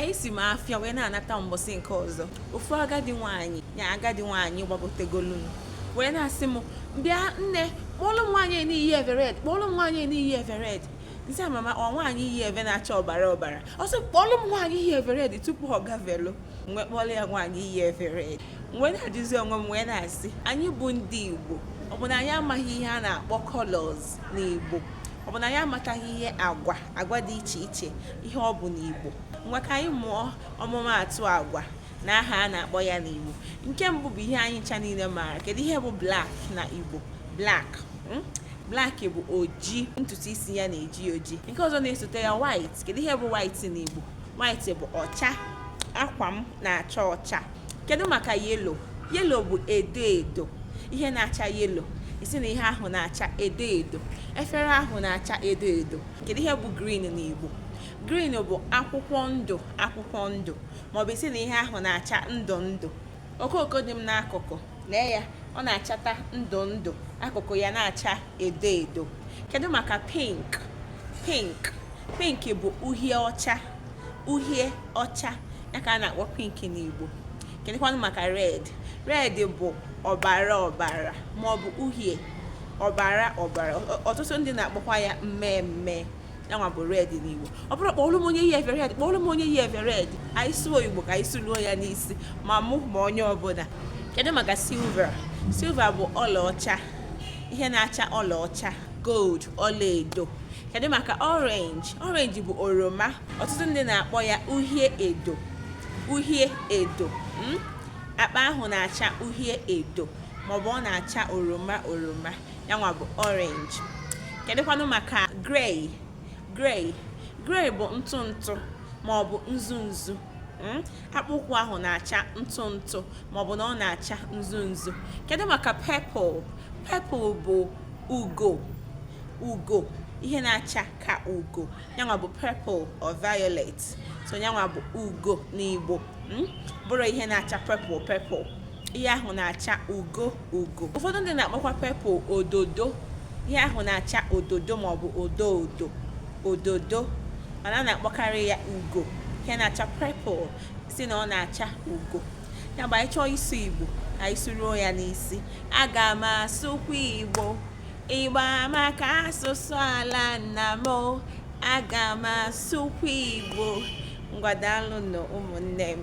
esi m afịa wee na-anata mbọsị nke ọzọ ofu agadi nwaanyị ya agadi nwaanyị gbagotegolu wee na-asị m bịa nne kpọọlụ m nwaanyị yi eve red kpọọlụ m nwaanyị yi eve red m sị mama ọ nwaanyị yi eve na-acha ọbara ọbara ọ sị kpọọlụ m nwaanyị yi eve red tupu ọ gavelu m wee kpọọlụ ya nwaanyị yi eve red m wee na-ajụzi onwe m wee na-asị anyị bụ ndị Igbo ọ bụ na anyị amaghị ihe a na-akpọ colors n'Igbo ọ bụ na anyị amataghị ihe agwa agwa dị iche iche ihe ọ bụ n'Igbo ngwa ka anyị mụọ ọmụmaatụ agwa na aha a na-akpọ ya n'Igbo nke mbụ bụ ihe anyị ncha niile maara kedu ihe bụ black na Igbo black hmm? black bụ oji ntutu isi ya na-eji oji nke ọzọ na-esote ya white kedu ihe bụ white n'Igbo white bụ ọcha akwa m na-acha ọcha kedu maka yellow yellow bụ edo edo ihe na-acha yellow ị sị na ihe ahụ na-acha edo edo efere ahụ na-acha edo edo kedu ihe bụ green n'Igbo green bụ akwụkwọ ndụ akwụkwọ ndụ maọbụ ị sị na ihe ahụ na-acha ndụ ndụ okooko dị m n'akụkụ lee ya ọ na-achata ndụ ndụ akụkụ ya na-acha edo edo kedu maka pink pink pink bụ uhie ọcha uhie ọcha ya ka a na-akpọ pink n'Igbo kedụkwanụ maka red red bụ ọbara ọbara ma ọ bụ uhie ọbara ọbara ọtụtụ ndị na-akpọkwa ya mmee mmee yanwa bụ red n'Igbo ọ bụrọ kpọọlụ m onye yi eve red kpọọlụ m onye yi eve red anyị sụọ Igbo ka anyị sụluo ya n'isi ma mụ ma onye ọbụla kedu maka silver silver bụ ọlaọcha ihe na-acha ọlaọcha gold ọlaedo kedu maka orange orange bụ oroma ọtụtụ ndị na-akpọ ya uhie edo uhie edo hmm? akpa ahụ na-acha uhie edo maọbụ ọ na-acha oroma oroma ya nwa bụ orange kedụkwanụ maka grey grey grey bụ ntụ ntụ maọbụ nzu nzu Hmm? akpụkwụ ahụ na-acha ntụ ntụ maọbụ na ọ na-acha nzu nzu kedu maka purple purple bụ ugo ugo ihe na-acha ka ugo yanwa bụ purple or violet so yanwa bụ ugo n'Igbo hmm? bụrụ ihe na-acha purple purple ihe ahụ na-acha ugo ugo ụfọdụ ndị na-akpọkwa purple ododo ihe ahụ na-acha ododo maọbụ odo odo ododo mana a na-akpọkarị ya ugo ihe na-acha purple sị na ọ na-acha ugo ya bụ anyị chọọ ịsụ Igbo anyị sụruo ya n'isi aga m asụkwa Igbo Igbo amaka asụsụ ala nna m aga m asụkwa Igbo ngwa daalụ nụ ụmụnne m